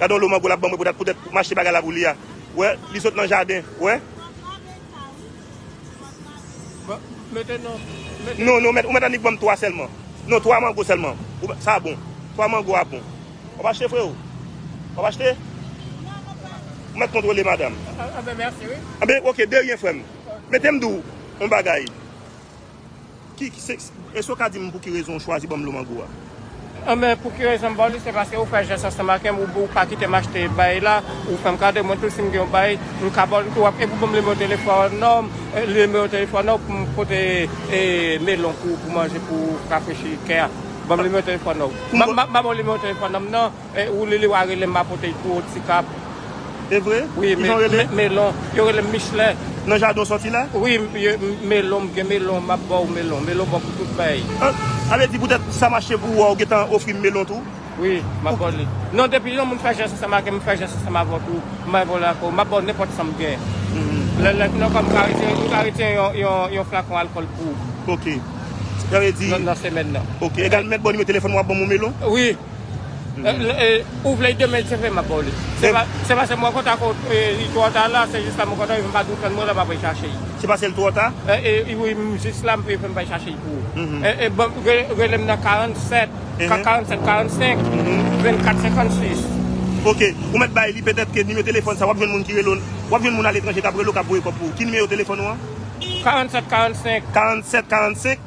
Gadon lo mango lap banm repotat poutet m achte bagay la pou li a wè li sot nan jaden wè. Non non mèt ou mèt annik banm 3 sèlman non 3 mango sèlman sa bon 3 mango a bon wap achte freo wap achte ou mèt kontrole madam anben ok de ryen frèm metem diw yon bagay. Èske ou ka di m pou ki rezon ou chwazi ban m dlo mango a? Anben, pou ki rezon m ba w li, se paske ou fè jès ansanm avè m, ou pa kite m achte baay la, ou fè m kado, mwen tou si m gen yon baay, m ka ba w li tou, epi ou ban m nimewo telefòn ou pou m pote melon pou manje pou rafrechi kè a. Ban m nimewo telefòn ou. M pa ba w nimewo telefòn m nan. Ou lili wa relem ma potel pou ou ti kap. Evre? Wi Kijan ou rele? Melon. Yo relem Michelin. Nan jaden ou soti la? Wi melon m gen melon map baw melon. Melon bon pou tout fèy. Sa vle di poutèt sa mache pou ou a ou gentan ofrim melon tou? Wi map baw li. Non depi yon moun fè jès ansanm avèm m fè jès ansanm avèw tou m bay volè ak ou. Map baw nenpòt sam gen. Lè lè fini ankò m ka retire m ka retire yon flakon alkòl pou ou. Ok. Sa vle di. Nan semèn nan. Ok. Egal m mèt baw nimewo telefòn ou wap banm yon melon? Wi. Ou vle demen l sevre m ap ba w li. Se pase mwen kontan ke li twò ta la, se jis la mwen kontan, m pa dwe tann mwen la m ap al chache li. Se pase l twò ta? Wi, m jis la m priye fè m bay chache li pou ou. Rele m nan 47, 47, 45, 24, 56. Ok, ou mèt bay li, petèt ke nimewo telefòn sa w ap jwenn moun ki rele w, w ap jwenn moun aletranje k ap rele w k ap voye kòb pou ou. Ki nimewo telefòn ou an? 47, 45. 47, 45.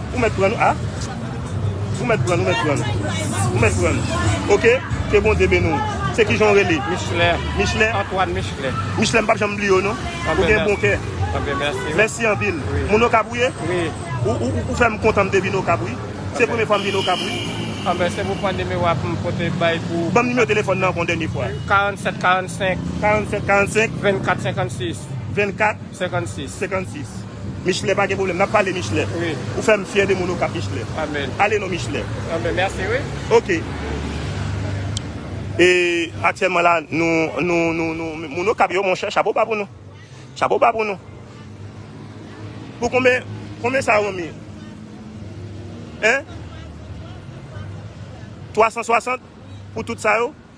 Ou mèt prann wi ah. Ou mèt prann ou mèt prann. Ou mèt prann ok ke Bondye beni w. Se kijan w rele? Michelin. Michelin? Antoine Michelin. Michelin m pap janm bliye w non. Ou gen bon kè. Ok mèsi. Mèsi anpil. Moun Okap ou ye? Wi. Ou fè m kontan m te vin Okap wi. Se premye fwa m vin Okap wi. Anben se pou pran nimewo a pou m pote bay pou. Banm nimewo telefòn nan ankò yon dènye fwa. 47 45. 47 45. 24 56. 24. 56. 56. Michelet pa gen problem nap pale Michelet ou fem fye de moun okap Michelet ale non Michelet ok e aktyelman la nou nou nou nou moun okap yo monche chapo ba pou nou chapo ba pou nou pou konbe konbe sa yon mi hein 360 pou tout sa yo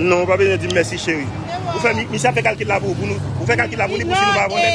Non ou pa bezwen dim mèsi cheri. Ou fè misye ap fè kalkil la pou ou pou nou ou fè kalkil la pou li pou si nou pa abonnel.